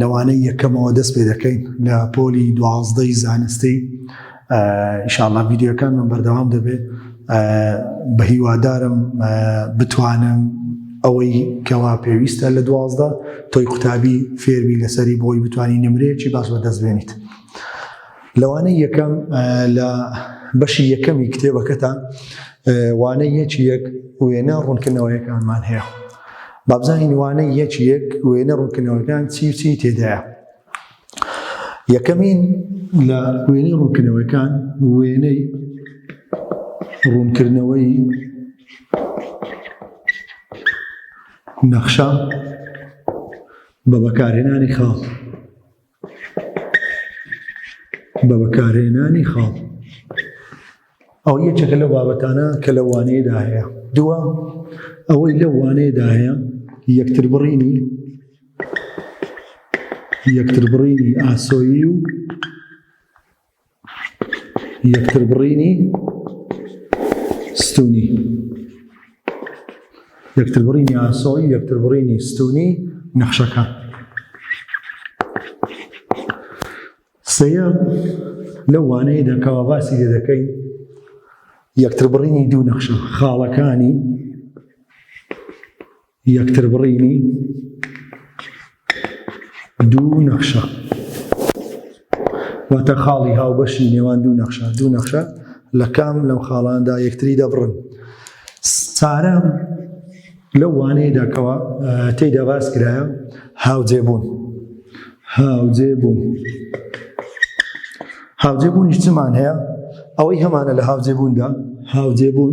لەوانەی یەکەمەوە دەست پێ دەکەین لە پۆلی دوازدەی زانستی ئیشاڵا ڤیددیوەکان من بەردەوام دەبێت بە هیوادارم بتوانم ئەوەی کەوا پێویستە لە دوازدە تۆی قوتابی فێربی لەسەری بۆی بتانی نمرەیەکی باس بە دەست بێنیت لەوانەی یەکەم لە بەشی یەکەمی کتێبەکەتان وانەیەکی یەک وێنە ڕوونکردنەوەیەکانمان هەیە بابزانین وانەی یەکی یەک وێنە ڕوونکردنەوەکان چی و چی تێدایە یەکەمین لە وێنەی ڕوونکردنەوەکان وێنەی ڕوونکردنەوەی نەخشە بە بەکارهێنانی خاڵ بە بەکارهێنانی خاڵ ئەو یەکێکە لەو بابەتانە کە لە وانەیەدا هەیە دووە ئەوەی لە وانەیەدا هەیە یەکتر بڕینی یەکتر بڕینی ئاسۆیی و یەکتربڕینی ستونی یەکتربڕینی ئاسۆی یەکتربڕینی ستونی نەخشەکە سەیە لە وانەیە دەکەوە باسی لێ دەکەین یەکتربڕینی دوو نەخشە خاڵەکانی یەکتر بڕینی دوو نەخشە واتە خاڵی هاوبەشی نێوان دوو نەخشە دوو نەخشە لە کام لەم خاڵاندا یەکتری دەبڕن سارە لەو وانەیەدا کەەوە تێدا باس کرایە هاوجێبوون هاوجێبوون هاوجێبوونیش چمان هەیە ئەوەی هەمانە لە هاوجێبووندا هاوجێبوون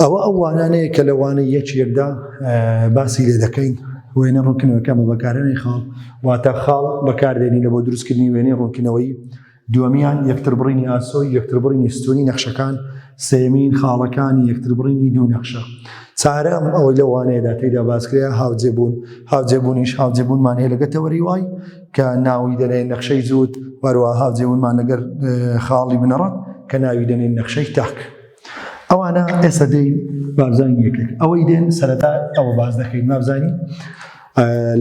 ئەوە ئەو وانانەیە کە لە وانەی یەکێکدا باسی لێ دەکەین وێنە ڕوونکردنەوەکە بە بەکارێنی خاڵ واتە خاڵ بەکاردێنی لە بۆ دروستکردنی وێنەی ڕوونکردنەوەی دووەمیان یەکتربڕینی ئاسۆی یەکتربڕینی ستونی نەخشەکان سێمین خاڵەکانی یەکتربڕینی دوو نەخشە چارەم ئەوەی لە وانەیەدا تێدا باسکرێ هاوجێبوون هاوجێبوونیش هاوجێبوونمان هەیە لەگە تەوەری وای کە ناوی دەنێن نەخشەی زووت وەروە هاوجێونمان لەگەر خاڵی بنەڕەت کە ناوی دەنێن نەخشەی تاک ئەوانە ئێستا دێن بابزانین یەکێک ئەوەی دێن سەرەتا ئەوە باز دەکەین بابزانین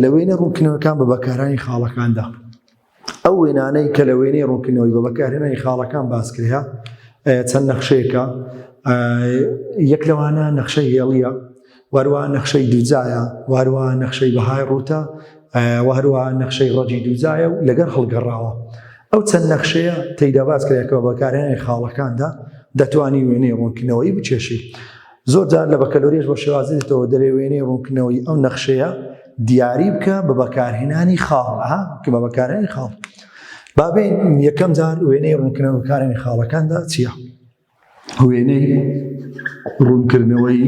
لە وێنە ڕوونکردنەوەکان بە بەکارانی خاڵەکاندا ئەو وێنانەی کە لە وێنەی ڕوونکردنەوەی بە بەکارهێنانی خاڵەکان باسکرێە چەند نەخشەیەەکە یەک لەوانە نەخشە هێڵیە وهروها نەخشەی دوجایە وهروها نەخشەی بەهای ڕووتە وهروها نەخشەی ڕەجی دوجایە و لەگەر هەڵگەڕاوە ئەو چەند نەخشەیە تێیدا باس کرێکەوە بەکارێنی خاڵەکاندا دەتوانی وێنەی ڕوونکردنەوەی بچێشی زۆر جار لە بەکەلۆریش بۆ شێوازێتەوە دەرێ وێنەی ڕوونکردنەوەی ئەو نەخشەیە دیاری بکە بە بەکارهێنانی خاڵها کە بە بەکارێنی خاڵ بابێن یەکەم جار وێنەی ڕوونکردنەوە بەکارێنی خاڵەکاندا چییە؟ وێنەی ڕوونکردنەوەی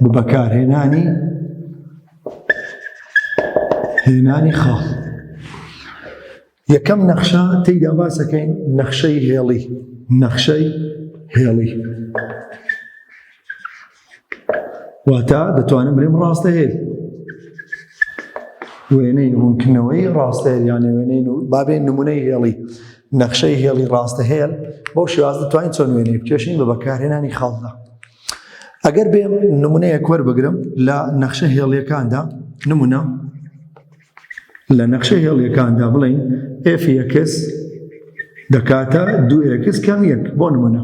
بە بەکارهێنانی هێنانی خاڵ یەکەم نەخشە تێیدا باسەکەین نەخشەی هێڵی نەخشەی هێڵی واتە دەتوانم بلێم ڕاستەهێل وێنەی ڕوونکردنەوەی ڕاستەهێل یان وێنەی بابێ نمونەی هێڵی نەخشەی هێڵی ڕاستەهێل بەو شێواز دەتوانین چۆن وێنەی بکێشین بە بەکارهێنانی خاڵدا ئەگەر بێم نمونەیە کوەر بگرم لە نەخشە هێڵیەکاندا نمونە لە نەخشە هێڵیەکاندا بڵین ئفکس دەکاتە دوو ئکس کەم یەک بۆ نمونە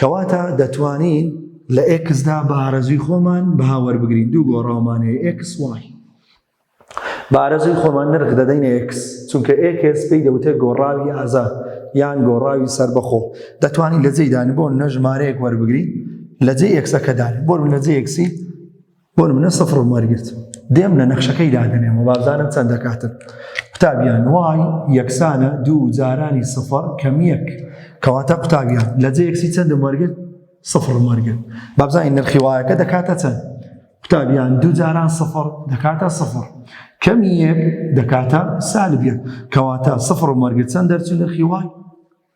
کەواتە دەتوانین لە ئێکسدا بە ئارەزوی خۆمان بەها وەربگرین دوو گۆڕاومان هەیە ئێکس وای بە ئارەزوی خۆمان نرخ دەدەین ئێکس چونکە ئێکس پێی دەوتێت گۆڕاوی ئازا یان گۆڕاوی سربەخۆ دەتوانین لە جێدان بۆ نەژمارەیەک وەربگرین لە جێ ئێکسەکەدان بۆ لە جێ ئێکسی بۆ نمونە سفرم وەرگرت دێم لە نەخشەکەی دادەنێم و بابزانم چەند دەکاتن قوتابیان وای یەکسانە دوو جارانی سفر کەمیەک کەواتە قوتابیان لە جێ یەکسی چەندم وەرگرت سفرم وەرگرت بابزانین نرخی وایەکە دەکاتە چەند قوتابیان دوو جاران سفر دەکاتە سفر کەمی یەک دەکاتە سالبیان کەواتە سفر مەرگچەند دەرچوو نرخی وای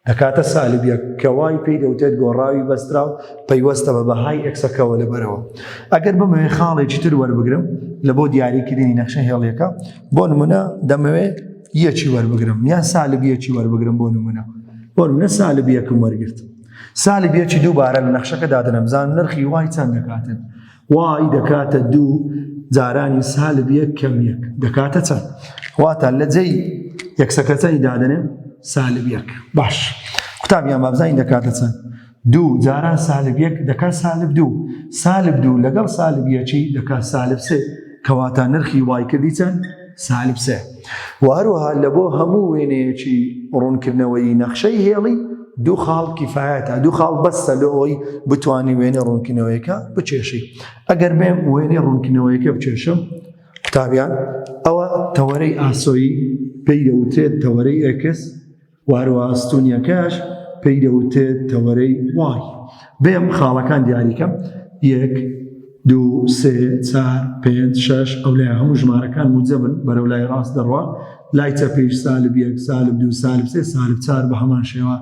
دەکاتە سالبیەک کە وای پێی دەوتێت گۆڕاوی بەستراو پەیوەستە بە بەهای ئەکسەکەوە لەبەرەوە ئەگەر بمەوێ خاڵێکی تر وەربگرم لە بۆ دیاریکردنی نەخشە هێڵیەکە بۆ نمونە دەمەوێت یەکی وەربگرم یا سالبیەکی وەربگرم بۆ نمونە بۆ نمونە سالبیەکم وەرگرت سالبیەکی دووبارە لە نەخشەکە دادنەبزان نرخی وای چەند دەکاتن وای دەکاتە دوو جارانی سالب یەک کەم یەک دەکاتە چەند واتە لە جێی یەکسەکەچەنی دادنێن سالب یەک باش قوتابیان بابزانین دەکاتە چەند دوو جاران سالب یەک دەکات سالب دوو سالب دوو لەگەڵ سالب یەکی دەکات سالب سێ کەواتە نرخی وای کردی چەند سالب سێ و هەروەها لە بۆ هەموو وێنەیەکی ڕوونکردنەوەی نەخشەی هێڵی دوو خاڵ کیفاەتە دوو خاڵ بەستە لەوەی بتانی وێنە ڕوونکردنەوەیەەکە بچێشی ئەگەر بێم وێنەی ڕوونکردنەوەیەکە بچێشم قوتابیان ئەوە تەوەرەی ئاسۆیی پێی دەوترێت تەوەرەی ئەکس و هەروەها ئەستوونیەکەش پێی دەوترێت تەوەرەی وای. بێم خاڵەکان دیاری کەم، یەک، دوو، سێ، چار، پێنج، شەش، ئەو لای هەموو ژمارەکان موجەبن بەرەو لای ڕاست دەڕوا، لای چەپیش سالب یەک، سالب دوو، سالب سێ، سالب چار بە هەمان شێوە،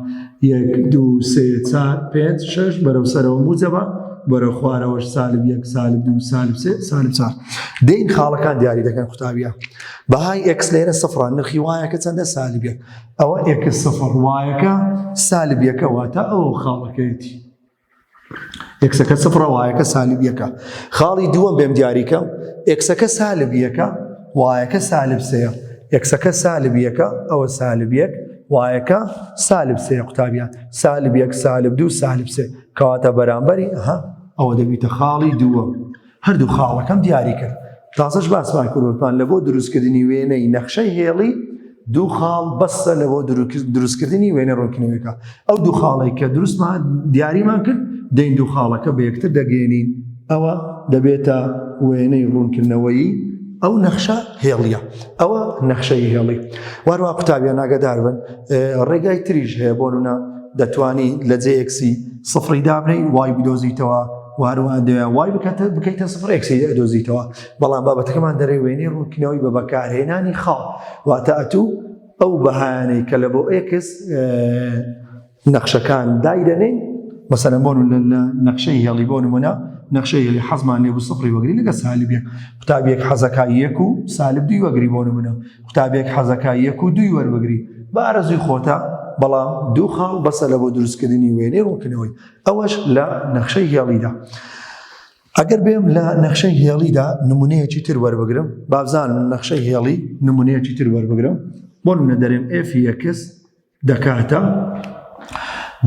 یەک، دوو، سێ، چار، پێنج، شەش، بەرەو سەرەوە موجەبە، بەرەو خوارەوەش سالب یەک، سالب دوو، سالب سێ، سالب چار. دێین خاڵەکان دیاری دەکەن قوتابیان. بەهای ئێکس لێرە سفڕە نرخی وایەکە چەندە سالب یەک ئەوە ئێکس سفڕ وایەکە سالب یەکە واتە ئەو خاڵەکەیەتی ئێکسەکە سفڕە وایەکە سالب یەکە خاڵی دووەم بێم دیاریکەم ئێکسەکە سالب یەکە وایەکە سالب سەیە یەکسەکە سالب یەکە ئەوە سالب یەک وایەکە سالب سێ قوتابیان سالب یەک سالب دوو سالب سێ کەواتە بەرامبەری ها ئەوە دەبیتە خاڵی دووە هەردوو خاڵەکەم دیاری کرد تازەش باسمان کردوتان لە بۆ دروستکردنی وێنەی نەخشەی هێڵی دوو خاڵ بەسە لە بۆ دروستکردنی وێنە ڕۆکنەوەکە ئەو دوو خاڵی کە دروستمان دیاریمان کرد دەین دوو خاڵەکە بە یەکتر دەگەێنین ئەوە دەبێتە وێنەی ڕوونکردنەوەی ئەو نەخشە هێڵیە ئەوە نەخشەی هێڵی واروا قوتابیە ناگەدار بن ڕێگای تریش هەیە بۆنە دەتوانی لە جێکسی سفری دابنەی وای بدۆزیتەوە وهەروەها دەیان وای بکەتە بکەیتە سفر ئەکسیدی ئەدۆزیتەوە بەڵام بابەتەکەمان دەرەی وێنەی ڕوونکردنەوەی بە بەکارهێنانی خاڵ واتە ئەتوو ئەو بەهانەی کە لە بۆ ئێکس نەخشەکان دایدەنین مەسەرە بۆن لە نەخشەی هێڵی بۆ نمونە نەخشەی هێلی حەزمان لێ سفری وەگری لەگە سالبێک قوتابێک حەزەکە یەک و سالب دوی وەگری بۆ نمونە قوتابێک حەزەکە یەک و دوی وەربگری بە ئارەزوی خۆتە بەڵام دوو خاڵ بەسە لە بۆ دروستکردنی وێنەی ڕوونکردنەوەی ئەوەش لە نەخشەی هێڵیدا. ئەگەر بێم لە نەخشەی هێڵیدا نمونەیەکی تر وەربگرم بابزان نەخشەی هێڵی نمونەیەکی تر وەربگرم بۆ منە دەرێن ئفیکس دەکاتە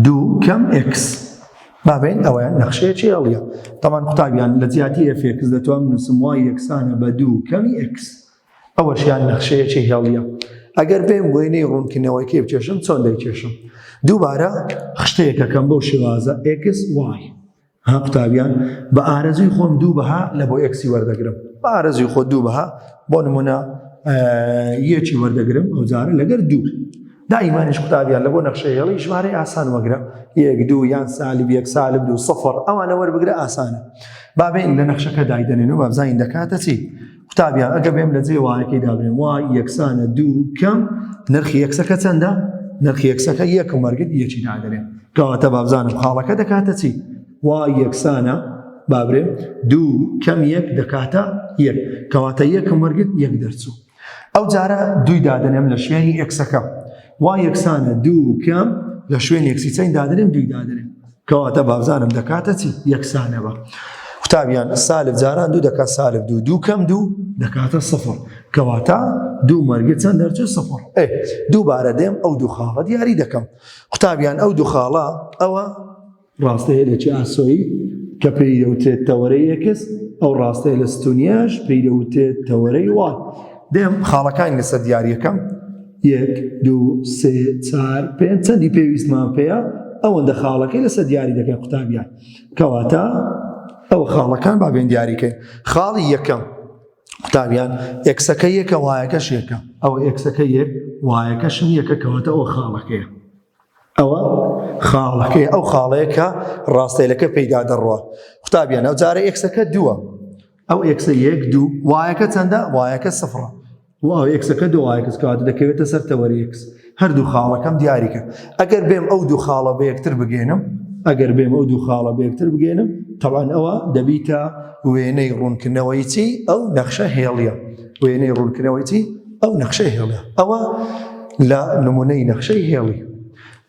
دوو کەم X بابین ئەوەیان نەخشەیەکی هێڵیە تەمان قوتابیان لە جیاتی ئفکس دەتوان نووسم وای یەکسانە بە دوو کەمی X ئەوەشیان نەخشەیەکی هێڵیە ئەگەر بێم وێنەی ڕوونکردنەوەیکەی بکێشم چۆن دەیکێشم دووبارە خشتەیەکەکەم بۆ شێوازە ئێکس وای ها قوتابیان بە ئارەزوی خۆم دوو بەها لە بۆ ئەکسی وەردەگرم بە ئارەزوی خۆ دوو بەها بۆ نمونە یەکی وەردەگرم ئەو جارە لەگەر دوو دائیمانش قوتابیان لە بۆ نەخشە هێڵی ژمارەی ئاسان وەگرە یەک دوو یان سالب یەک سالب دوو سفر ئەوانە وەربگرە ئاسانە بابێن لە نەخشەکە دایدەنێن و بابزانین دەکاتە چی قوتابیان ئەگە بێم لە جێ وایەکەی دابێن وای یەکسانە دوو کەم نرخی یەکسەکە چەندە نرخی یەکسەکە یەک و مەرگت یەکی نادەێن کەواتە بابزانم خاڵەکە دەکاتە چی وای یەکسانە بابرێ دوو کەم یەک دەکاتە یەک کەواتە یەکم وەرگت یەک دەرچوو ئەو جارە دووی دادنێم لە شوێنی ئەکسەکە وا یەکسانە دوو کەم لە شوێن یەکسی چەند دادرێن دوی دادرێن کەواتە بابزانم دەکاتە چی یەکسانەوە قوتابیان سالب جاران دوو دەکات سالب دوو دوو کەم دوو دەکاتە سفر کەواتە دوو مەرگە چەند دەرچێت سفر ئێ دووبارە دێم ئەو دوو خاڵە دیاری دەکەم قوتابیان ئەو دوو خاڵە ئەوە ڕاستەیە لە چ ئاسۆیی کە پێی دەوترێت تەوەرەی یەکس ئەو ڕاستەیە لە ستونیاش پێی دەوترێت تەوەرەی وای دێم خاڵەکانی لەسەر دیارەکەم یەک دوو سێ چار پێ چەندی پێویستمان پێەیە ئەوەندە خاڵەکەی لەسەر دیاری دەکەن قوتابیان کەواتە ئەو خاڵەکان بابێن دیاریکەین خاڵی یەکەم قوتابیان ئەکسەکە یەکە وایەکەش یەکە ئەو ئەکسەکە یەک وایەکەشم یەکە کەواتە ئەو خاڵەکەیە ئەوە خاڵەکەی ئەو خاڵەیە کە ڕاستەیلەکە پێیدا دەڕوە قوتابیان ئەو جارە ئێکسەکە دووە ئەو ئێکسە یەک دوو وایەکە چەندە وایەکە سفڕە و ئەو ئێکسەکە دوو وایەکەس کات دەکەوێتە سەر تەوەریکس هەردوو خاڵەکەم دیاریکە ئەگەر بێم ئەو دوو خاڵە بە یەکتر بگەێنم ئەگەر بێم ئەو دوو خاڵە بە یەکتر بگەێنم تەوان ئەوە دەبیتە وێنەی ڕوونکردنەوەی چی ئەو نەخشە هێڵە وێنەی ڕوونکردنەوەی چی ئەو نەخشەی هێڵێ ئەوە لە نمونەی نەخشەی هێڵی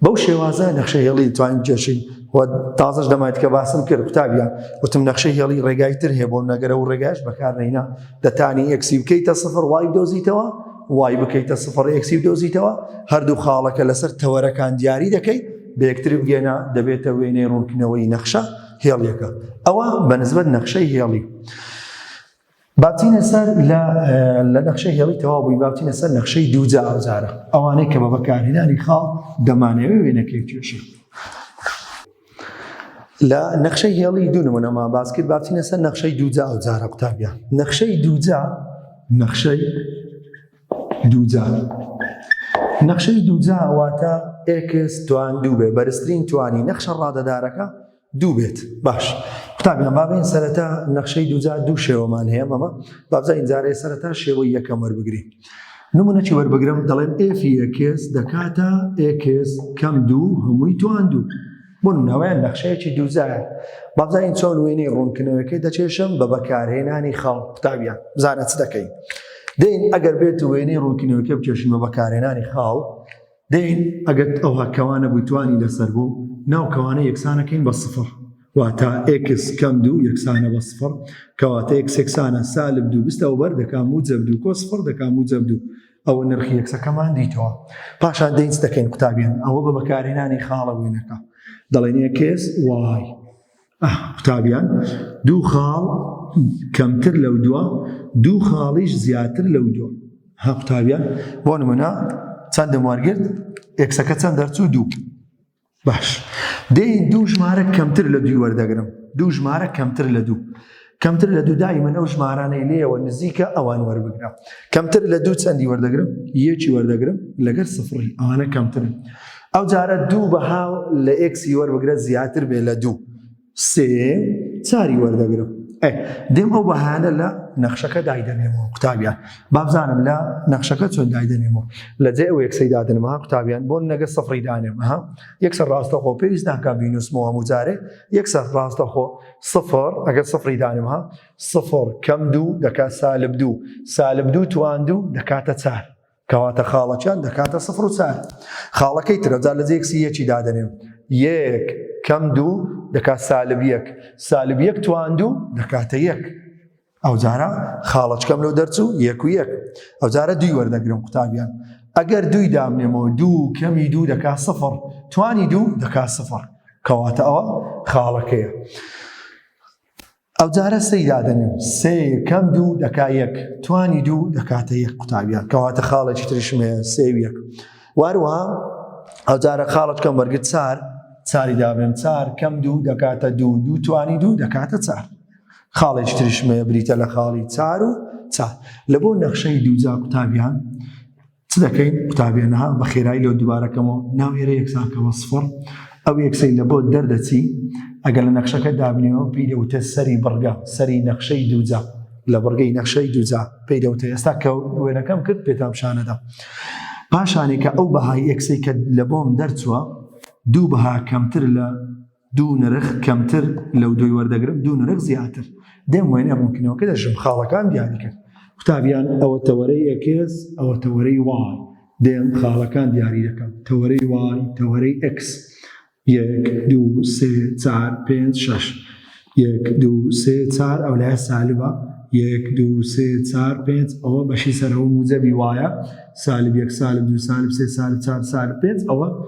بەو شێوازە نەخشە هێڵی توانین جێشین و تازش دەمایت کە باسم کرد قوتابیان وتم نەخشە هێڵی ڕێگای تر هەیە بۆ نەگەرە و ڕێگاش بەکارنەینا دەتانی ئەکسی بکەیتە سفر وای دۆزیتەوە وای بکەیتە سفر ئەکسی دۆزیتەوە هەردوو خاڵەکە لەسەر تەوەرەکان دیاری دەکەیت بەکتری بگەێنە دەبێتە وێنەی ڕوونکردنەوەی نەخشە هێڵیەکە ئەوە بەنسبەت نەخشەی هێڵی. با بچینە سەر لە لە نەخشەی هێڵی تەواو بووی با بچینە سەر نەخشەی دووجا ئەوجارە ئەوانەی کە بە بەکارهێنانی خاڵ دەمانەوێ وێنەکەی توێشی لە نەخشەی هێڵی دوو نمونەما باسکرد باچینە سەر نەخشەی دووجا ئەو جارە قوتابیان نەخشەی دووجا نەخشەی دووجا نەخشەی دووجا واتە ئێکس توان دوو بێ بەرزترین توانی نەخشە ڕادەدارەکە دوو بێت باش قوتابی نە بابین سەرەتا نەخشەی دوجار دوو شێوەمان هەیە مەمە بابزا ئینجارەیە سەرەتا شێوەی یەکەم وەربگری نمونەکی وەربگرم دەڵێن ئێفی یەکێس دەکاتە ئێکێس کەم دوو هەمووی توان دوو بۆن ناویان نەخشەیەکی دووزایە بابزانین چۆن وێنەی ڕوونکردنەوەکەی دەچێشم بە بەکارهێنانی خاڵ قوتابیان بزانە چ دەکەین دین ئەگەر بێت وێنەی ڕوونکردنەوەکە بچێشن بە بەکارهێنانی خاڵ دەین ئەگەر ئەوها کەوانە بووی توانی لەسەر بوو ناو کەوانە یەکسانەکەین بە سفر واتا ئکس کەم دوو یەکسانە بە سفر کەواتە یەک سێکسانە سالب دوو بستە و بەر دەکا موجب دوو کۆ سفر دەکا موجب دوو ئەوە نرخی یەکسەکەمان دیتەوە پاشان دەینس دەکەین قوتابیان ئەوە بە بەکارهێنانی خاڵە وێنەکە دەڵێن یەکێس وای ئه قوتابیان دوو خاڵ کەمتر لەو دووە دوو خاڵیش زیاتر لەو دووە ها قوتابیان بۆ نمونە چەندم وەرگرت ئێکسەکە چەند دەرچوو دوو باش دەی دوو ژمارە کەمتر لە دوی وەردەگرم دوو ژمارە کەمتر لە دوو کەمتر لە دوو دای من ئەو ژمارانەی لێیەوە نزیکە ئەوان وەربگرە کەمتر لە دوو چەندی وەردەگرم یەکی وەردەگرم لەگەر سفڕی ئەوانە کەمترن ئەو جارە دوو بەها لە ئێکسی وەربگرە زیاتر بێ لە دوو سێ چاری وەردەگرم دێم ئەو بەهانە لە نەخشەکە دایدەنێمەوە قوتابیان بابزانم لە نەخشەکە چۆن دایدەنێمەوە لە جێ ئەو یەکسەی دادنمەها قوتابیان بۆن نەگە سەفری دانێمەها یەکسەر ڕاستەخۆ پێویست ناکە بینوسمەوە هەموو جارێ یەکسەر ڕاستەخۆ سفر ئەگەر سفری دانم ها سفر کەم دوو دەکات سالب دوو سالب دوو توان دوو دەکاتە چار کەواتە خاڵەکیان دەکاتە سفر و چار خاڵەکەی ترەجا لە جێکسی یەکی دادەنێم یەک کەم دوو دەکات سالب یەک سالب یەک توان دوو دەکاتە یەک ئەوجارە خاڵەچکەم لەو دەرچوو یەک و یەک ئەوجارە دوی وەردەگرم قوتابیان ئەگەر دوی دامنێمەوە دوو کەمی دوو دەکا سفر توانی دوو دەکا سفر کەواتە ئەوە خاڵەکەیە ئەوجارە سەی دادەنێم سێ کەم دوو دەکا یەک توانی دوو دەکاتە یەک قوتابیان کەواتە خاڵێکی تریشمێ سێ یەک واروە ئەوجارە خاڵەتکەم وەرگت چار چاری دابێن چار کەم دوو دەکاتە دوو دوو توانی دوو دەکاتە چار خاڵێکی تریشم هەیە بریتە لە خاڵی چار و چار لە بۆ نەخشەی دووجا قوتابیان چ دەکەین قوتابیانها بە خێرایی لەو دووبارەکەمەوە ناو ئێرە یەکسانکەەوە سفڕ ئەو یەکسەی لە بۆ دەردەچی ئەگەر لە نەخشەکە دابنیەوە پێی دەوتە سەری بڕگە سەری نەخشەی دووجا لە بڕگەی نەخشەی دووجا پێی دەوتە ئێستا کە وێنەکەم کرد پێتام شانەدا پاشانێکە ئەو بەهای یەکسەی کە لە بۆم دەرچووە دوو بەها کەمتر لە دوو نرخ کەمتر لەو دووی وەردەگرم دوو نرخ زیاتر دێم وێنە ڕوونکردنەوەکە دەژم خاڵەکان دیاری کرد قوتابیان ئەوە تەوەرەی ئەکس ئەوە تەوەرەی وان دێم خاڵەکان دیاری دەکەم تەوەرەی وان تەوەرەی ئەکس یەک دوو سێ چار پێنج شەش یەک دوو سێ چار ئەو لای سالبە یەک دوو سێ چار پێنج ئەوە بەشی سەرەوە موجەبی وایە سالب یەک سالب دوو سالب سێ سالب چار سالب پێنج ئەوە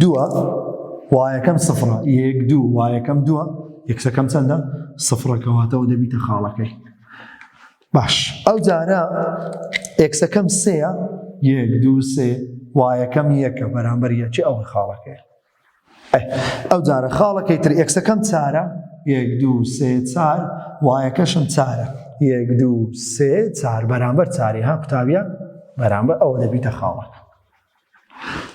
دووە وایەکەم سفڕە یەک دوو وایەکەم دووە یەکسەکەم چەندە سفڕەکەواتەوە دەبیتە خاڵەکەی باش ئەو جارە ئێکسەکەم سەیە یەک دوو سێ وایەکەم یەکە بەرامبەر یەکی ئەو خاڵەکەی ئەو جارە خاڵەکەی تر ئێکسەکەم چارە یەک دوو سێ چار وایەکەشم چارە یەک دوو سێ چار بەرامبەر چاری ها قوتابە بەرامبەر ئەوە دەبیتە خاڵەکە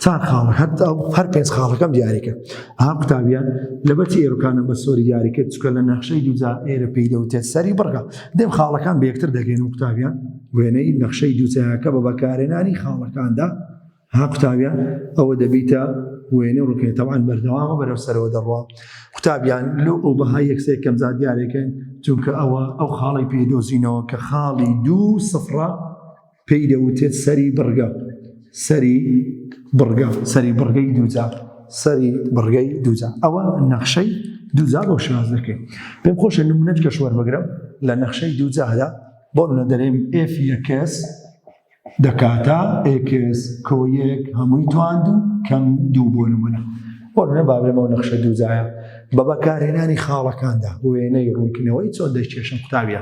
چار خاڵە هەر هەر پێنج خاڵەکەم دیاریکە ها قوتابیان لەبەتی ئێرەکانە بە سۆری دیاریکە چکە لە نەخشەی دوجا ئێرە پێی دەوتێت سەری بڕگە دێم خاڵەکان بێکتر دەگەین و قوتابیان وێنەی نەخشەی دوجاکە بە بەکارێنانی خاڵەکاندا ها قوتابیان ئەوە دەبیتە وێنە ڕووکێتەوان بەردەوامە بەرەو سەرەوە دەڕوە قوتابیان لۆ ئەو بەها یەکسێ کەمزا دیارێکن چونکە ئەوە ئەو خاڵی پێدۆزینەوە کە خاڵی دوو سفرە پێی دەوتێت سەری بڕگە سەری بڕگە سەری بڕگەی دووجا سەری بڕگەی دووجا ئەوە نەخشەی دووجا بۆ شاز دەکەین پێم خۆشە نمونەت کە شوەر بگرم لە نەخشەی دووجادا بۆ منە دەرێم ئف یەکەس دەکاتە ئکس کۆیەک هەمووی تواند و کەم دوو بۆ نمونە بۆ منە بابێمەوە نەخشە دووجایە بە بەکارهێنانی خاڵەکاندا وێنەی ڕوونکردنەوەی چۆن دەکێشم قوتابە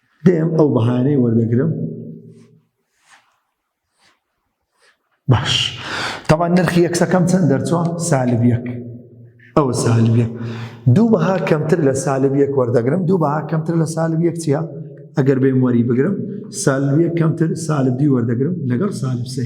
دێم ئەو بەهانەی وەردەگرم باش تەوا نرخی یەکسەکەم چەند دەرچوە سالب یەک ئەوە سالب یەک دوو بەها کەمتر لە سالب یەک وەردەگرم دوو بەها کەمتر لە سالب یەک چیە ئەگەر بێم وەری بگرم سالب یەک کەمتر سالب دی وەردەگرم لەگەڵ سالب سێ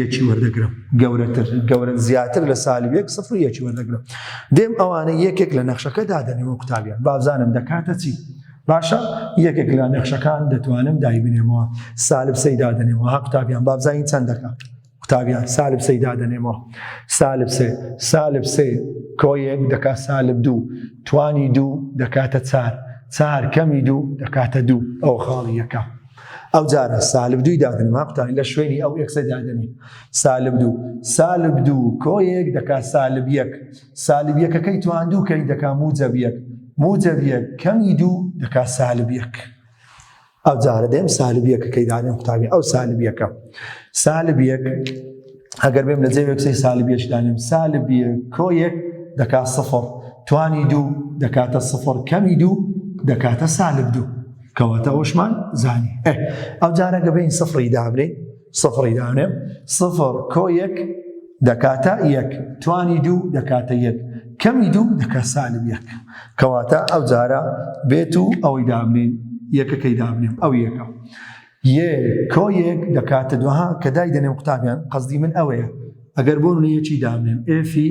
یەکی وەردەگرم. گەورەتر گەورەن زیاتر لە سالب یەک سفر یەکی وەردەگرم دێم ئەوانە یەکێک لە نەخشەکە دادەنێ وە قوتابیان بابزانم دەکاتە چی باشە یەکێک لە نەخشەکان دەتوانم دایبنێمەوە سالب سەی دادەنێمەوە ها قوتابیان بابزانین چەند دەکات قوتابیان سالب سەی دادەنێمەوە سالب سێ سالب سێ کۆیەک دەکا سالب دوو توانی دوو دەکاتە چار چار کەمی دوو دەکاتە دوو ئەو خاڵیەکە ئەو جارە سالب دووی دادنما قوتانی لە شوێنی ئەو ئێکسە دادنێ سالب دوو سالب دوو کۆیەک دەکات سالب یەک سالب یەکەکەی تواندوو کەی دەکات موجەب یەک موجەب یەک کەمی دوو دەکات سالب یەک ئەو جارە دێم سالب یەکەکەی دادن قوتابی ئەو سالب یەکە سالب یەک ئەگەر بێم لە جێ وێکسی سالب یەشدانم سالب کۆیەک دەکات سفر توانی دوو دەکاتە سفر کەمی دوو دەکاتە سالب دوو کەواتە ئەوشمان زانی ئەو جارە گەبین سفری دابرێ سفری دانێ سفر کۆ یەک دەکاتە یەک توانی دوو دەکاتە یەک کەمی دوو دەکە سالب یەک کەواتە ئەو جارە بێت و ئەوەی دابنین یەکەکەی دابنێم ئەو یەکە یە کۆ یەک دەکاتە دوها کە دای دەنێم قوتابیان قەزدی من ئەوەیە ئەگەر بۆ منەیەکی دابنێم ئفی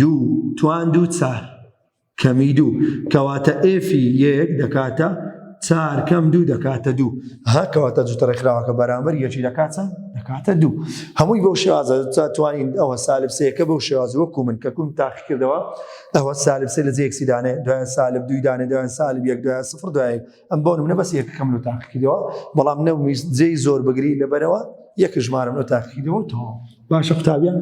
دوو، توان دووچار کەمی دوو، کەواتە ئێفی یەک دەکاتە چار کەم دوو دەکاتە دوو ها کەواتە جوتە ڕێکخراوەکە بەرامبەر یەکی دەکاتە دەکاتە دوو هەمووی بەو شێوازە تا توانین ئەوە سالب سەیەکە بەو شێواز وەکو من کە کوم تاقی کردەوە ئەوە سالب سێ لە جێکسیدانێ دوای سالب دوویدانێ دوای سالب یەک دوای سفر دوای ئەم بۆ نمونە بەس یەکەکەم لە تاقیکردەوە بەڵام نەویست جێی زۆر بگری لەبەرەوە یەک ژمارم لە تاقیکردەوە تۆ باشە قوتابیان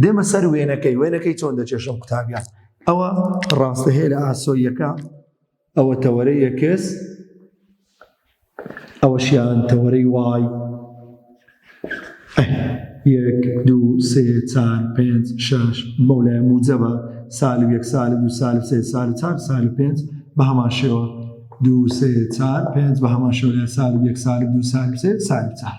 دێمە سەر وێنەکەی وێنەکەی چۆن دەچێشم قوتابیان ئەوە ڕاستە هەیە لە ئاسۆیەکە ئەوە تەوەرە یەکس ئەوەشیان تەوەرەی وای ئەه یەک دوو سێ چار پێنج شەش مەولای موجەبە سال و یەک سال دوو سال سێ سال چار سال پێنج بە هەمان شێوە دوو سێ چار پێنج بە هەمان شێوە لە سال و یەک سال دوو سال سێ سال چار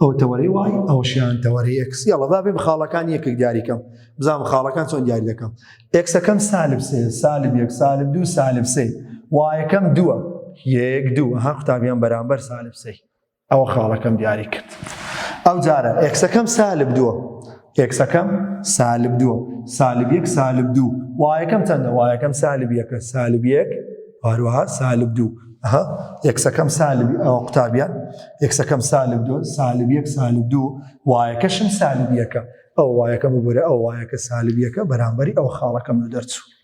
ئەو تەوەری وای ئەوشیان تەوەری ئەکسی ئەڵەدا بێ خاڵەکان یەکێک دیاریکەم بزانام خاڵەکان چۆن دیاری دەکەم ئەکسەکەم سالب سێ سالب یەک سالب دوو سالب سێ وایەکەم دووە یەک دوو هەر قوتابیان بەرامبەر سالب سێ ئەوە خاڵەکەم دیاری کرد ئەو جارە ئێکسەکەم سالب دووە ئێکسەکەم سالب دووە سالب یەک سالب دوو وایەکەم چەندە وایەکەم سالب یەکە سالب یەک هەروەها سالب دوو ها یەکسەکەم سالب ئەوە قوتابیان یەکسەکەم سالب دوو سالب یەک سالب دوو وایەکەشم سالب یەکە ئەو وایەکەم ببورە ئەو وایەکە سالب یەکە بەرامبەری ئەو خاڵەکەم لە دەرچوو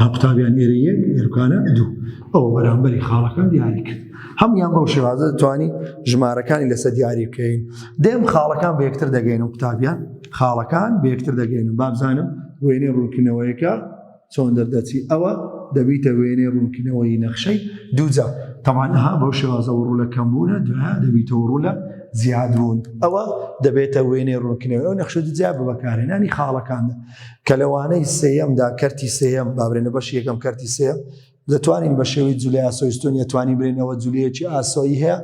ها قوتابیان ئێرە یەک ئێرکانە دوو ئەوە بەرامبەری خاڵەکان دیاری کرد هەموان بەو شێوازە دەتوانی ژمارەکانی لەسە دیاری بکەین دێم خاڵەکان بە یەکتر دەگەین و قوتابیان خاڵەکان بە یەکتر دەگەین و بابزانم وێنێ ڕوونکردنەوەیەکە چۆن دەردەچی ئەوە دەبیتە وێنێ ڕوونکردنەوەی نەخشەی دووجا تەمانەها بەو شێوازە وڕوو لە کەمبوونە دوایە دەبیتەوە ڕوو لە زیادبوون ئەوە دەبێتە وێنێ ڕوونکردنەوەی و نەخشە دوجا بە بەکارێنانی خاڵەکاندا کە لە وانەی سێیەمدا کەرتی سێیەم با برێنە بەشی یەکەم کەرتی سێیەم دەتوانین بە شێوەی جولی ئاسۆی ستونی دەتوانین برێنەوە جولیەکی ئاسۆیی هەیە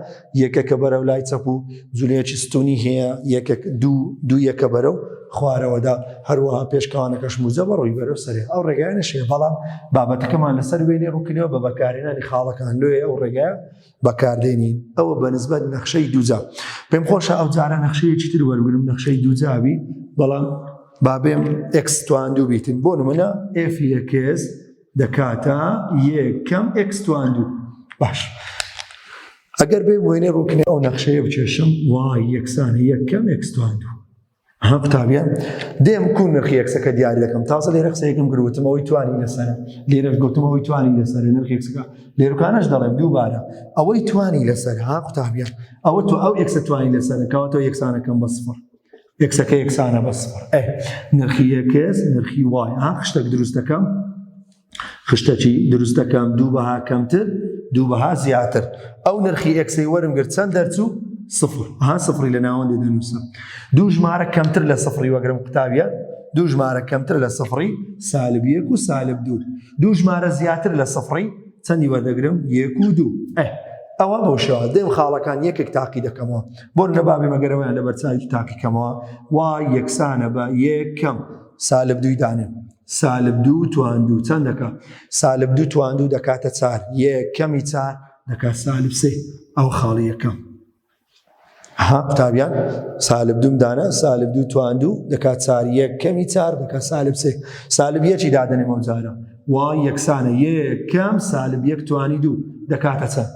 یەکەکە بەرەو لای چەپ و جولیەکی ستونی هەیە یەکەک دوو دوو یەکە بەرەو خوارەوەدا هەروەها پێشکەوانەکەش موزە بە ڕووی بەرەو سەرێ ئەو ڕێگایە نەشێ بەڵام بابەتەکەمان لەسەر وێنێ ڕووکردەوە بە بەکارێنانی خاڵەکان لێ ئەو ڕێگایە بەکاردێنین ئەوە بەنسبەت نەخشەی دووجا پێم خۆشە ئەو جارە نەخشەیەکی تر وەرگرم نەخشەی دووجاوی بەڵام بابێم ئەکسستوان دوو بیتن بۆ نمونە ئفیەکێز دەکاتە یەکەم ئەکسستوان دوو باش. ئەگەر بێ وێنێ ڕووکنێ ئەو نەخشەیە بچێشم وای یەکسانی یەکەم ئەکسستوان دوو ها قوتابیە دێم کو نرخی یەکسەکە دیاری دەکەم تازە لێرە قسەیەکم گروتمەوەی توانی لەسەر لێرە گوتمەوەی توانی لەسەر نرخ یەکسەکە لێرکانش دەڵێم دووبارە ئەوەی توانی لەسەر ها قوتابیە ئەوە تو ئەو یەکسە توانی لەسەر کەواتەوە یەکسانەکەم بە سفر یەکسەکە یەکسانە بە سفر نرخی یەکس نرخی وای ها خشتێک دروستەکەم خشتەکی دروست دەکەم دوو بەها کەمتر دوو بەها زیاتر ئەو نرخی ئەکسی وەرم گرت چەند دەرچوو سفر ها سفری لە ناوەندی دەنووسم دوو ژمارە کەمتر لە سفری وەگرم قوتابیە دوو ژمارە کەمتر لە سفری سالب یەک و سالب دوو دوو ژمارە زیاتر لە سفری چەندی وەردەگرم یەک و دوو ئە ئەوە بۆ شێوە دێم خاڵەکان یەکێک تاقی دەکەمەوە بۆ لە بابێ مەگەرەوەیان لە بەرچاوی تاقیکەمەوە وا یەکسانە بە یەکەم سالب دووی دانێن سالبدوو تواندوو چەند دەکا؟ سالبدوو تواندوو دەکاتە چار یەکەمی چار دەکات سالب سێ ئەو خاڵی یەکەم ها قوتابیان سالبدوم دانا سالبدوو تواندوو دەکات چار یەکەمی چار دەکات سالب سێ سالب یەکی دادنێمە جارە وای یەکسانە یەکەم سالب یەک توانی دوو دەکاتە چەند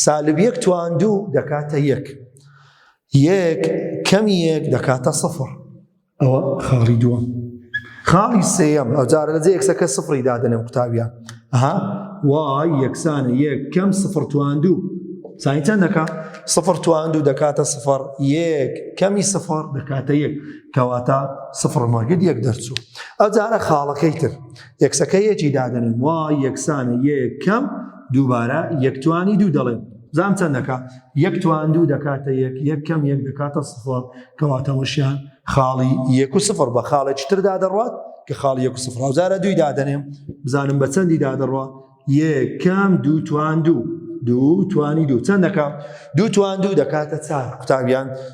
سالب یەک تواندوو دەکاتە یەک یەک کەمی یەک دەکاتە سەفر ئەوە خاڵی دووەم خاڵی سێەم ئەو جارە لە جێ یەکسەکە سفری دادنێ و قوتابە ئەها وای یەکسانە یەک کەم سفر تواندوو سانی چەندەکە سفر تواندوو دەکاتە سفر یەک کەمی سفر دەکاتە یەک کەواتە سفر مەگەت یەک دەرچوو ئەو جارە خاڵەکەی تر یەکسەکە یەکی دادنێ وای یەکسانە یەک کەم دووبارە یەکتوانی دوو دەڵێن زام چەند دەکا یەک تواندوو دەکاتە یەک یەک کەم یەک دەکاتە سفر کەواتەوەشیان خاڵی یەک و سفر بە خاڵێکی تردا دەڕات کە خاڵی یەک و سفر هاوزارە دووی دادەنێم بزانم بە چەندی دادەڕە یەکەم دوو تواندوو دوو توانی دوو چەند دەکات دوو توان دوو دەکاتە چار قوتابیان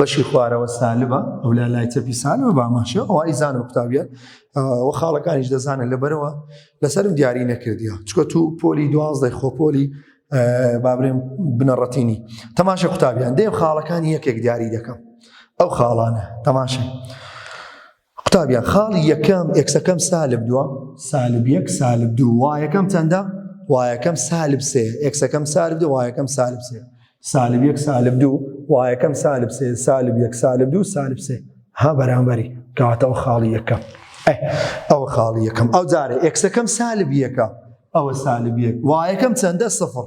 بەشی خوارەوە سالبە ئەو لا لای چەپی سالەوە باماشە ئەو ئایزان و قوتابیان و خاڵەکانیش دەزانن لەبەرەوە لەسرم دیاری نەکردیا چکە تو پۆلی دوازدەی خۆپۆلی بابرێن بنەڕەتینی تەماشە قوتابیان دێم خاڵەکانی یەکێک دیاری دەکەم ئەو خاڵانە تەماشە قوتابیان خاڵی یەکەم ئێکسەکەم سالب دووە سالب یەک سالب دوو وایەکەم چەندە وایەکەم سالب سێ ئێکسەکەم سالب دوو وایەکەم سالب سێ سالب یەک سالب دوو وایەکەم سالب سێ سالب یەک سالب دوو سالب سێ ها بەرامبەری کەواتەوە خاڵی یەکەم ئەوە خاڵی یەکەم ئەو جارە ئێکسەکەم سالب یەکە ئەوە سالب یەک وایەکەم چەندە سفر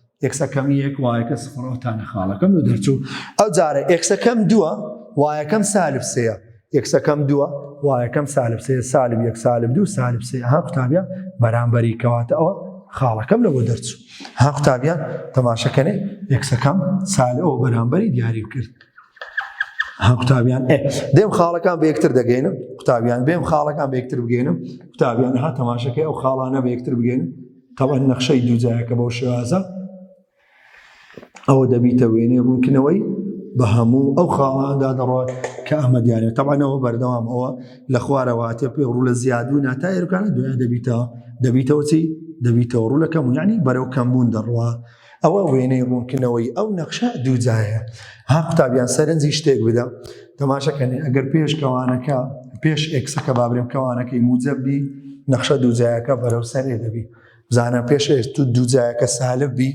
ئێکسەکەم یەک وایەکە سفڕەوە تا نەخاڵەکەم و دەرچوو ئەو جارە ئێکسەکەم دووە وایەکەم سالب سەیە یەکسەکەم دووە وایەکەم سالب سێ سالب یەک سالب دوو سالب سێ ها قوتابیان بەرامبەری کەواتە ئەوە خاڵەکەم لەوە دەرچوو ها قوتابیان تەماشەکەنێ یەکسەکەم سالەوە بەرامبەری دیاری کرد ها قوتابیان دێم خاڵەکان بە یەکتر دەگەینم قوتابیان بێم خاڵەکان بە یەکتر بگەینم قوتابیان ها تەماشەکەی ئەو خاڵانە بە یەکتر بگەین تەبعەن نەخشەی دووجایەکە بەو شێوازە ئەوە دەبیتە وێنەی ڕوونکردنەوەی بە هەموو ئەو خاڵاندا دەڕات کە ئەمە دیارە تەبانەوە بەردەوام ئەوە لە خوارەواتێ پێ ڕوو لە زیادبوو ناتا ئێرکانە دوێن دەبیتە دەبیتەوە چی دەبیتەوە ڕوو لە کەمونیانی بەرەو کەمبوون دەڕوە ئەوە وێنەی ڕوونکردنەوەی ئەو نەخشە دووجایە ها قوتابیان سەرنجی شتێک بدە تەماشەکەنی ئەگەر پێش کەوانەکە پێش ئێکسەکە بابرێم کەوانەکەی موجەبی نەخشە دووجایەکە بەرەو سەرێ دەبی بزانە پێش تو دووجایەکە سالب بی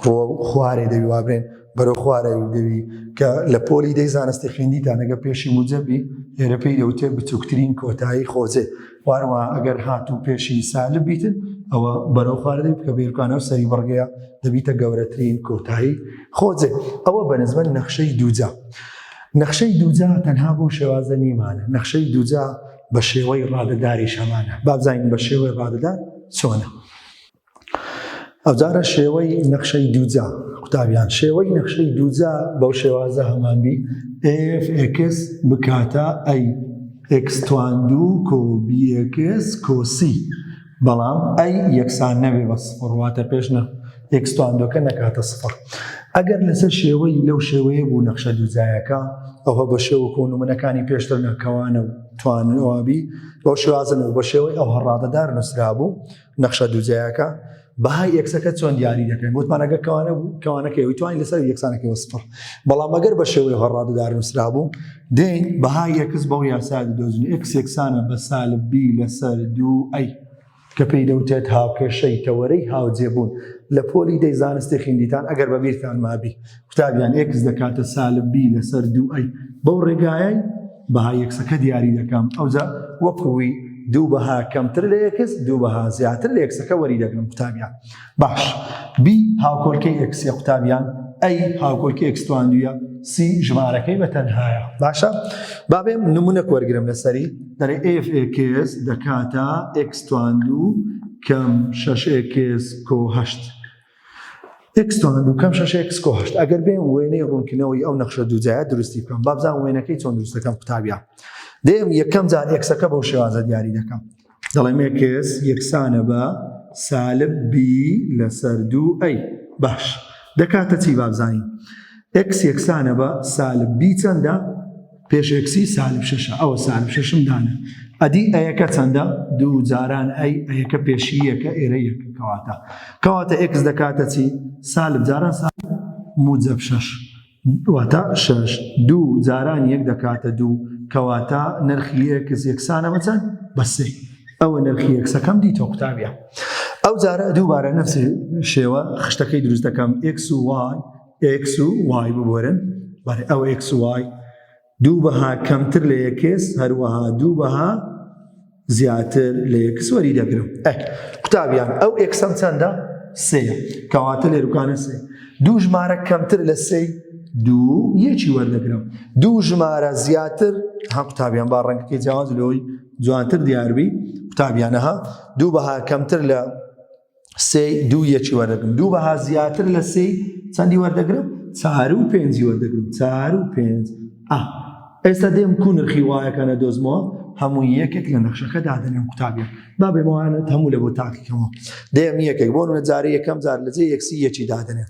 ڕۆ خوارێ دەوی وابرێن بەرەو خوارە دەوی کە لە پۆلی دەی زانستی خوێندیتانەگە پێشی موجەبی لێرە پێی دەوتێ بچووکترین کۆتایی خۆزێ واروا ئەگەر هات و پێشی سالب بیتن ئەوە بەرەو خواردەی بکە بێرکانەوە سەری بڕگەیە دەبیتە گەورەترین کۆتایی خۆجێ ئەوە بەنزمەن نەخشەی دووجا نەخشەی دووجا تەنها بۆ شێوازە نیمانە نەخشەی دووجا بە شێوەی ڕادەداری شەمانە بابزانین بە شێوەی ڕادەدار چۆنە ئەوجارە شێوەی نەخشەی دووجا قوتابیان شێوەی نەخشەی دووجا بەو شێوازە هەمانبی ئفکس بکاتە ئەی ئەکستواندوو کۆبیەکس کۆسی بەڵام ئەی یەکسان نەبێ بە سپڕواتە پێش نە ئەکستواندۆکە نەکاتە سپڕ ئەگەر لەسەر شێوەی لەو شێوەیە بوو نەخشە دووجایەکە ئەوە بە شێوە کۆنمونەکانی پێشتر نەکەوانە و توانەوەبی بەو شێوازن و بە شێوەی ئەو هەڕادەدار نووسرا بوو نەخشە دووجایەکە بەهای ئێکسەکە چۆن دیاری دەکەین وتمان ئەگەر کەوانە بوو کەوانەکە وتوانین لەسەر یەکسانەکەەوە سفر بەڵام ئەگەر بە شێوەی هەڕاددار نووسرا بوو دێن بەهای یەکس بەو یاسا دۆزن ئێکس یەکسانە بە سالبی لەسەر دوو ئەی کە پێی دەوتێت هاوکێشەی تەوەرەی هاوجێبوون لە پۆلی دەی زانستی خیندیتان ئەگەر بەبییرتان مابی قوتابیان ئێکس دەکاتە سالب بی لەسەر دوو ئەی بەو ڕێگایەی بەها یەکسەکە دیاری دەکەم ئەوجا وەکوی دوو بەها کەمتر لە یەکس دوو بەها زیاتر لە یەکسەکە وەری دەگرم قوتابیان باش بی هاوکۆلکەی ئەکسێ قوتابیان ئەی هاوکۆلکی ئەکستواندویە سی ژمارەکەی بە تەنهایە باشە بابێ نمونە وەرگرم لەسەری دەرێ FX دەکاتە ئەکستواندو کەم 6 کۆهشت ئێکس تۆنە دووکەم شەشە ئێکس کۆ هەشت ئەگەر بێن وێنەی ڕوونکردنەوەی ئەو نەخشە دووجایە دروستی بکەم با بزان وێنەکەی چۆن دروستەکەم قوتابیان دێم یەکەم جار ئێکسەکە بەو شێوازە دیاری دەکەم دەڵێم ئێکس یەکسانە بە سالب بی لەسەر دوو ئەی باش دەکاتە چی بابزانین ئێکس یەکسانە بە سالب بی چەندە پێش ئێکسی سالب شەشە ئەوە سالب شەشم دانێ ئەدی ئەیەکە چەندە دوو جاران ئەی ئەیەکە پێشی یەکە ئێرە یەکە کەواتە کەواتە ئێکس دەکاتە چی سالب جاران سالب موجب شەش واتە شەش دوو جاران یەک دەکاتە دوو کەواتە نرخی ئێکس یەکسانە بەچەند بەسێ ئەوە نرخی یەکسەکەم دیتۆ قوتابە ئەو جارە دووبارە نفسی شێوە خشتەکەی دروست دەکەم ئێکس و وای ئێکس و وای ببورن، بەڵێ ئەو ئێکس و وای دوو بەها کەمتر لە ئێکس هەروەها دوو بەها زیاتر لە ئێکس وەری دەگرم. ئەک قوتابیان ئەو ئێکسەم چەندە؟ سێیە، کەواتە لێروکانە سێ دوو ژمارە کەمتر لە سێی دوو یەکی وەردەگرم دوو ژمارە زیاتر ها قوتابیان با ڕەنگەکەی جیاواز لەوەی جوانتر دیاربی قوتابیانەها دوو بەها کەمتر لە سێی دوو یەکی وەردەگرم دوو بەها زیاتر لە سێی چەندی وەردەگرم چار و پێنجی وەردەگرم چار و پێنج ئێستا دێم کو نرخی وایەکانە دۆزمەوە هەموو یەکێک لە نەخشەکە دادەنێم قوتابیان با بێمەوانت هەموو لە بۆ تاکیکەمەوە دێم یەکێک بۆ نە جارە یەکەم جار لەجێ یەکسی یەکی دادنێن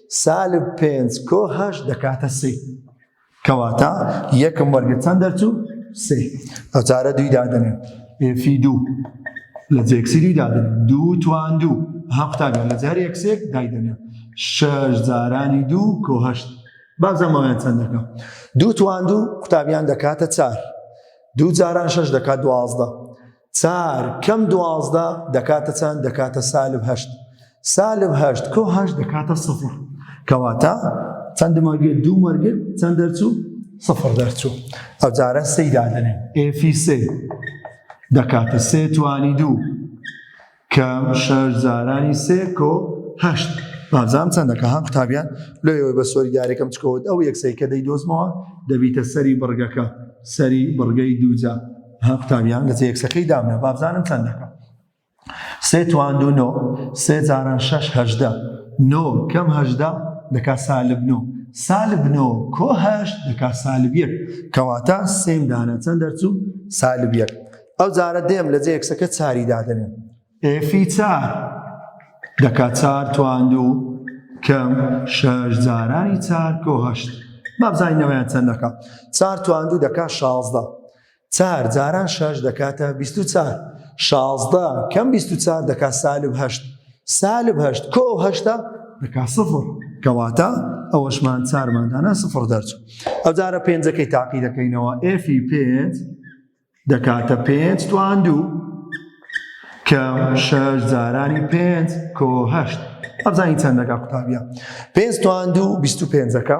سالب پێنج کۆ هەشت دەکاتە سێ کەواتە یەکم وەرگرت چەند دەرچوو سێ ئەو چارە دووی دادنێ ئێفی دوو لە جێکسی دووی دادن دوو توان دوو ها قوتابیان لە جار یەکسێک دایدەنێ شەش جارانی دوو کۆ هەشت بازەمەوەیان چەند دەکەم دوو توان دوو قوتابیان دەکاتە چار دوو جاران شەش دەکات دوازدە چار کەم دوازدە دەکاتە چەند دەکاتە سالب هەشت سالب هەشت کۆ هەشت دەکاتە سفر کەواتە چەند مەرگێت دوو مەرگێت چەند دەرچوو سفر دەرچوو ئەو جارە سەی دادنێن ئێفی سێ دەکاتە سێ توانی دوو کام شارزارانی سێ کۆ هەشت بازان چەندە کە هەم قوتابیان لۆ ئێوەی بە سۆری دارێکم چکەوت ئەو یەکسەی کە دەی دۆزمەوە دەبیتە سەری بڕگەکە سەری بڕگەی دووجا هەم قوتابیان لە یەکسەکەی دامە بابزانم چەندەکە سێ توان دوو نۆ سێ جاران شەش هەژدە نۆ کەم هەژدە دەکا سالب نۆ سالب نۆ کۆ هەشت دەکا سالب یەک کەواتە سێم دانە چەند دەرچوو سالب یەک ئەو جارە دێم لە جێ یەکسەکە چاری دادەنێم ئێفی چار دەکا چار تواندوو کەم شەش جارانی چار کۆ هەشت مابزانینەوەیان چەند دەکا چار تواندوو دەکا شازدە چار جاران شەش دەکاتە بیست و چار شازدە کەم بیست و چار دەکا سالب هەشت سالب هەشت کۆ هەشتا دەکا سفر کەواتە ئەوەشمان چارماندانە سفر دەرچ ئەو جارە پێنجەکەی تاقی دەکەینەوە ئێفی پێنج دەکاتە پێنج توان دوو کەم شەش جارانی پێنج کۆ هەشت ئەبزانی چەند دەکات قوتابیە پێنج توان دوو بیست و پێنجەکە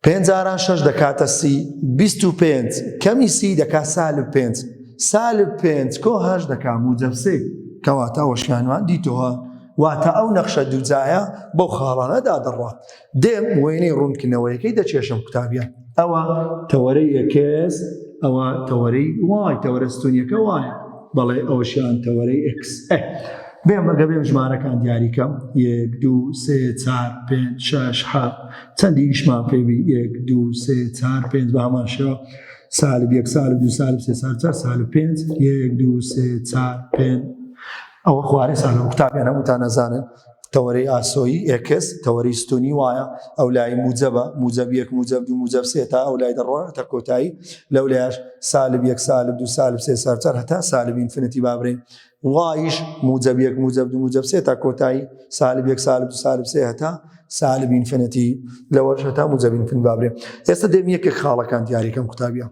پێنج جاران شەش دەکاتە سی بیست و پێنج کەمی سی دەکات سالب پێنج سالب پێنج کۆ هەش دەکات موجەبسێ کەواتە وەشیانوان دیتەوە واتە ئەو نەخشە دووجایە بەو خاڵانەدا دەڕات دێم وێنەی ڕوونکردنەوەیەکەی دەچێشم قوتابیان ئەوە تەوەرەی ئەکس ئەوە تەوەرەی وای تەوەرە ستونیەکە وایە بەڵێ ئەوشیان تەوەرەی ئەکس بێم ئەگە بێم ژمارەکان دیاریکەم یەک دوو سێ چار پێ شش ح چەندی ئیشمان پێبی یەک دوو سێ چار پێ بە هەمان شێوە سالب یەک سال دو سال سێ سال چار سال پێ یەک دوو سێ چار پێ ئەوە خوارێ سالە قوتابیان هەمووتان نەزانن تەوەرەی ئاسۆیی ئێکس تەوەری ستونی وایە ئەو لای موجەبە موجەب یەک موجەب دو موجەب سێ تا ئەو لای دەڕۆ تا کۆتایی لەو لایش سالب یەک سالب دو سالب سێ سەرچەر هەتا سالب ئینفنتی بابرێن وایش موجەب یەک موجەب دو موجەب سێ تا کۆتایی سالب یەک سالب دو سالب سێ هەتا سالب ئینفنتی لەوەش هەتا موجەب ئینفن بابرێن ئێستا دێم یەکێک خاڵەکان دیاریکەم قوتابیان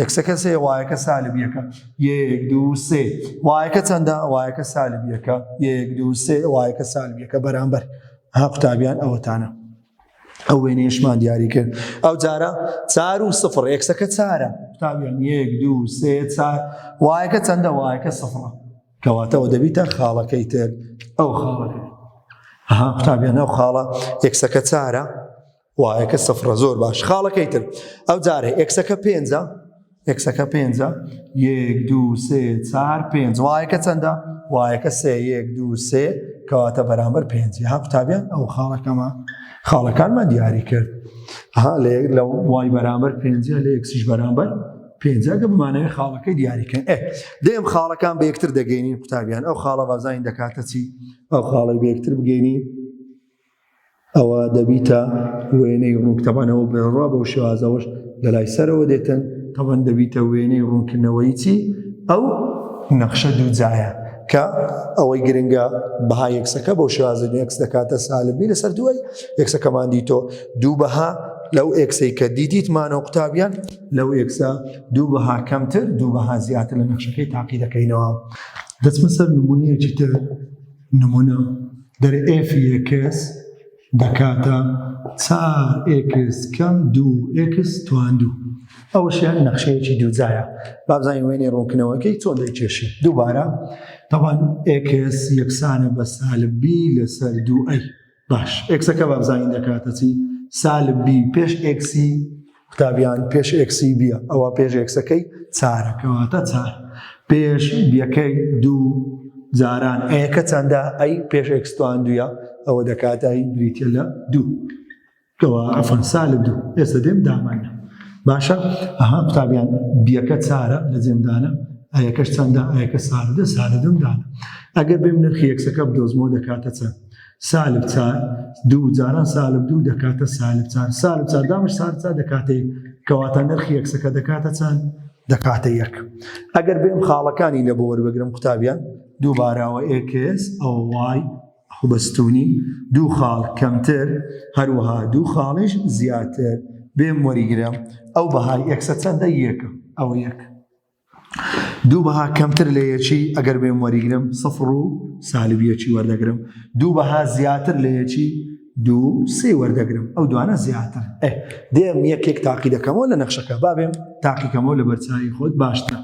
یەکسە کە سێ وایەکە سالب یەکە یەک دوو سێ وایەکە چەندە وایەکە سالب یەکە یەک دوو سێ وایەکە سالب یەکە بەرامبەر ها قوتابیان ئەوەتانە ئەو وێنێشمان دیاری کرد ئەو جارە چار و سفر یەکسەکە چارە قوتابیان یەک دوو سێ چار وایەکە چەندە وایەکە سفرە کەواتەوە دەبیتە خاڵەکەی تر ئەو خاڵەکە ها قوتابیان ئەو خاڵە یەکسەکە چارە وایەکە سفرە زۆر باش خاڵەکەی تر ئەو جارێ ئێکسەکە پێنجە ئێکسەکە پێنجە یەک دو سێ چار پێنج وایەکە چەندە وایەکە سێ یەک دو سێ کەواتە بەرامبەر پێنج ها قوتابیان ئەو خاڵەکەمە خاڵەکانمان دیاری کرد ها لە یەک لە وای بەرامبەر پێنج لە یەکسیش بەرامبەر پێنجگە بمانەوەی خاڵەکەی دیاریکەن ئێ دێم خاڵەکان بە یەکتر دەگەینی قوتابیان ئەو خاڵە بازانین دەکاتە چی ئەو خاڵی بە یەکتر بگەینی ئەوە دەبیتە وێنەی ڕوونک تەبان ئەوە بڕوا بەو شێوازەوەش لە لای سەرەوە دێتن تەبان دەبیتە وێنەی ڕوونکردنەوەی چی ئەو نەخشە دوو جایە کە ئەوەی گرنگە بەها یەکسەکە بۆ شێوازە یەکس دەکاتە سالبی لەسەر دوای یەکسەکەمان دیتۆ دوو بەها لەو ئێکسەی کە دیدیتمانە و قوتابیان لەو ئێکسە دوو بەها کەمتر دوو بەها زیاتر لە نەخشەکەی تاقی دەکەینەوە دەچمە سەر نمونەیەکی تر نمونە، دەر ئێف یێکس دەکاتە چار ئێکس کەم دوو ئێکس توان دوو. ئەوەشیان نەخشەیەکی دووجایە. با بزانین وێنەی ڕوونکردنەوەکەی چۆن دەیکێشین. دووبارە، تەبەن ئێکس یەکسانە بە سالب بی لەسەر دوو ئەی. باش ئێکسەکە بابزانین دەکاتە چی سالب بی پێش ئێکسی قوتابیان پێش ئێکسی بیە ئەوە پێش ئێکسەکەی چارەکەواتە چار پێش بیەکەی دوو جاران ئەیەکە چەندە ئەی پێش ئێکستوان دوە ئەوە دەکاتایی بریتە لە دوو کوا عفوا سالب دوو ئێستا دێم دامانە باشە ئەها قوتابیان بیەکە چارە لە جێمدانە ئەیەکەش چەندە ئەیەکە ساردە سارە دەمدانە ئەگەر بێم نرخی یەکسەکە بدۆزمۆ دەکاتە چەند سالب چار دوو جاران سالب دوو دەکاتە سالب چار سالب چار دامش سارچا دەکاتێ کەواتە نرخی یەکسەکە دەکاتە چەند دەکاتە یەک ئەگەر بێم خاڵەکانی لە بۆ وەربگرم قوتابیان دووبارەوە ئێکس ئەو وای خوبستوونی، دوو خاڵ کەمتر، هەروەها دوو خاڵیش زیاتر، بێم وەریگرە ئەو بەهای ئێکسە چەندە؟ یەکە، ئەوە یەک. دوو بەها کەمتر لە یەکی ئەگەر بێم وەریگرم سفڕ و سالب یەکی وەردەگرم، دوو بەها زیاتر لە یەکی دوو سێ وەردەگرم، ئەو دوانە زیاتر. ئێ دێم یەکێک تاقی دەکەمەوە لە نەخشەکە، با بێم تاقیکەمەوە لەبەرچاوی خۆت باشترە.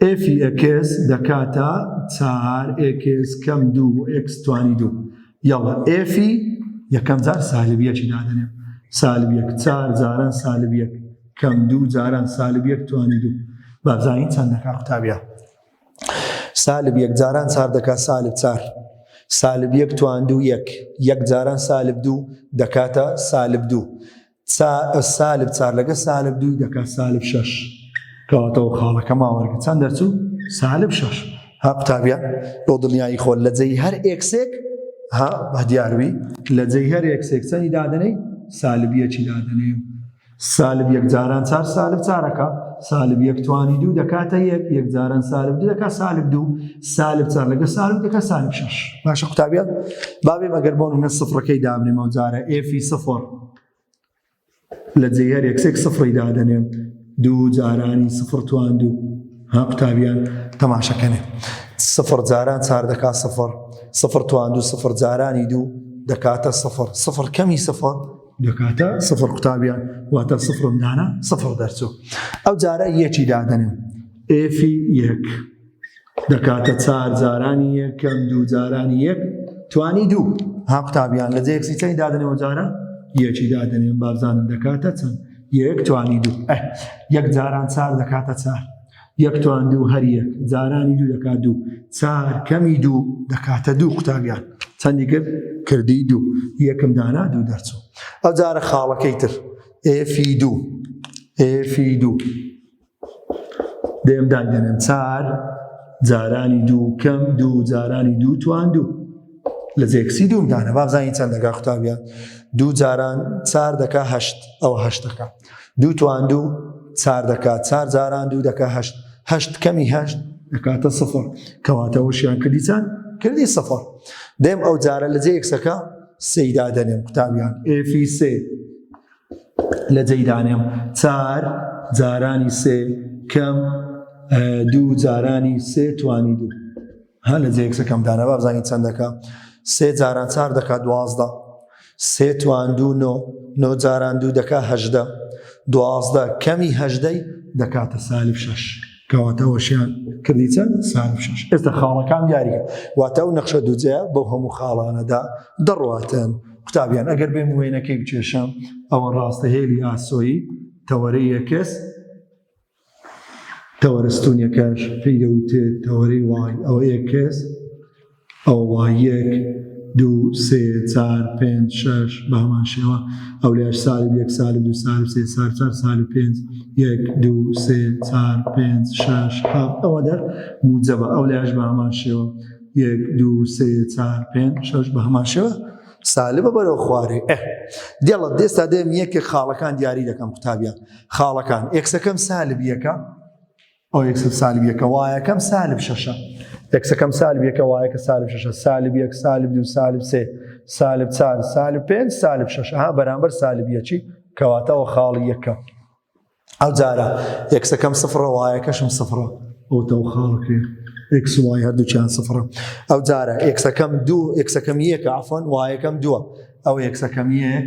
ئێفی ئێکس دەکاتە چار ئێکس کەم دوو ئێکس توانی دوو یەڵە ئێفی یەکەم جار سالبیەکی دادەنێم سالبیەک چار جاران سالبیەک کەم دوو جاران سالبیەک توانی دوو بابزانین چەندەکە قوتابە سالب یەک جاران چار دەکات سالب چار سالب یەک توان دوو یەک یەک جاران سالب دوو دەکاتە سالب دوو سا سالب چار لەگە سالب دوو دەکات سالب شش کەواتەوە خاڵەکە ماوەرگە چەند دەرچوو سالب شش ها قوتابیان بۆ دڵنیایی خۆل لە جێی هەر ئێکسێک ها بە دیاروی لە جێی هەر ئێکسێک چەندی دادنەی سالبیەکی دادنێ سالب یەک جاران چار سالب چارەکە سالب یەک توانی دوو دەکاتە یەک یەک جاران سالب دوو دەکات سالب دوو سالب چار لەگە سالب دەکات سالب شش باشە قوتابیان بابێ مەگەر بۆن نە سفرەکەی دابنێمەوە جارە ئێفی سفر لە جێ هەر یەکسێک سفڕی دادەنێن دوو جارانی سفر تواند و ها قوتابیان تەماشەکەنێ سفر جاران چار دەکا سفر سفر تواند و سفر جارانی دوو دەکاتە سفر سفر کەمی سفر دەکاتە سفر قوتابیان واتە سفرم دانا سفر دەرچوو ئەو جارە یەکی دادەنێن ئێفی یەک. دەکاتە چار جارانی یەکەم دوو جارانی یەک توانی دوو ها قوتابیان لە جێکسی چەی دادنەوە جارە یەکی دادنێن بابزانن دەکاتە چەند یەک توانی دوو یەک جاران چار دەکاتە چار یەک توان دوو هەر یەک جارانی دوو دەکات دوو چار کەمی دوو دەکاتە دوو قوتابیان چەندی کرد کردی دوو یەکم دانا دوو دەرچوو ئەو جارە خاڵەکەی تر ئێفی دوو ئێفی دوو دەیەم دادگەنن چار جارانی دوو کەم دوو جارانی دوو توان دوو لە جێکسی دوو دانە بابزانانی چەند دەگا قوتابیان دوو جاران چار دەکا هەشت ئەو هەشت دەکا دوو توان دوو چار دەکا چار جاران دوو دەکا هەشت هەشت کەمی هەشت دەکاتە سفر کەواتەوەشیان کردی چەند کردی سفر دەم ئەو جارە لە جێکسەکە سەیدا دەنێم قوتابیان ئفی سێ لە جێی دانێم چار جارانی سێ کەم دوو جارانی سێ توانی دوو هە لە جێ یەکسەکەم دانە بابزانانی چەندەکە سێ جاران چار دەکات دوازدە سێ توان دوو نۆ نۆ جاران دوو دەکات هەژدە دوازدە کەمی هەژدەی دەکاتە سالب شەش کەواتە ئەوەشیان کردی چەند سار و شەش ئێستا خاڵەکان دیاریکە واتە ئەو نەخشە دووجەیە بەو هەموو خاڵانەدا دەڕواتن قوتابیان ئەگەر بێم وێنەکەی بچێشم ئەوە ڕاستە هێلی ئاسۆیی تەوەرەی یەکەس تەوەرە ستونیەکەش پێی دەوتێت تەوەری وای ئەوە یەکەس ئەوە وا یەک دوو سێ چار پێنج شەش بە هەمان شێوە ئەو لێش سال و یەک سال و دو سال و سێ سال چار سال و پێنج یەک دوو سێ چار پێنج شەش هەفت ئەوە دەر موجەبە ئەو لێش بە هەمان شێوە یەک دوو سێ چار پێنج شەش بە هەمان شێوە سالبە بەرەو خوارێ ئە دێڵە دێستا دێم یەکێک خاڵەکان دیاری دەکەم قوتابیان خاڵەکان ئێکسەکەم سالب یەکە ئەو یەکسل سالب یەکە وایە کەم سالب شەشە یەکسەکەم سالب یەکە وایە کە سالب شەشە سالب یەک سالب دوو سالب سێ سالب چار سالب پێنج سالب شەش ها بەرامبەر سالب یەکی کەواتەوە خاڵی یەکە ئەو جارە یەکسەکەم سفرە وایە کەشم سفرە ئەوتەوە خاڵکرێ ئکس وای هەردووچیان سفرە ئەو جارە یەکسەکەم دوو یەکسەکەم یەکە ئافۆن وایەکەم دووە ئەو یەکسەکەم یەک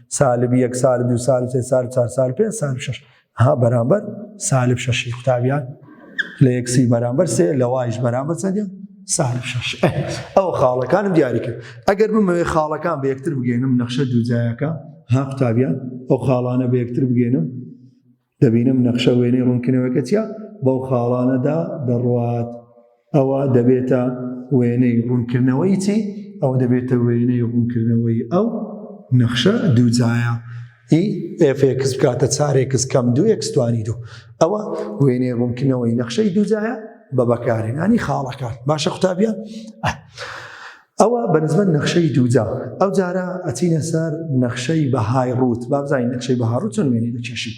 سالب یەک سالب دو سالب سێ سالب چار سالب پێ سالب شش ها بەرامبەر سالب شەشی قوتابیان لە یەکسی بەرامبەر سێ لە وایش بەرامبەر چەندە سالب شش ئەو خاڵەکانم دیاری کرد ئەگەر بمەوێ خاڵەکان بە یەکتر بگەێنم نەخشە دووجایەکە ها قوتابیان ئەو خاڵانە بە یەکتر بگەێنم دەبینم نەخشە وێنەی ڕوونکردنەوەکە چیە بەو خاڵانەدا دەڕوات ئەوە دەبێتە وێنەی ڕوونکردنەوەی چی ئەوە دەبێتە وێنەی ڕوونکردنەوەی ئەو نەخشە دووجایە ئی ئفکس بکاتە چارێکس کەم دو ئەکسستوانی دوو ئەوە وێنەی ڕوونکردنەوەی نەخشەی دووجایە بە بەکارهێنانی خاڵەکان باشە قوتابیان ئەوە بە نسبەت نەخشەی دووجا. ئەو جارە ئەچینە سەر نەخشەی بەهای ڕووت، با بزانین نەخشەی بەها ڕووت چۆن وێنەی دەکێشین.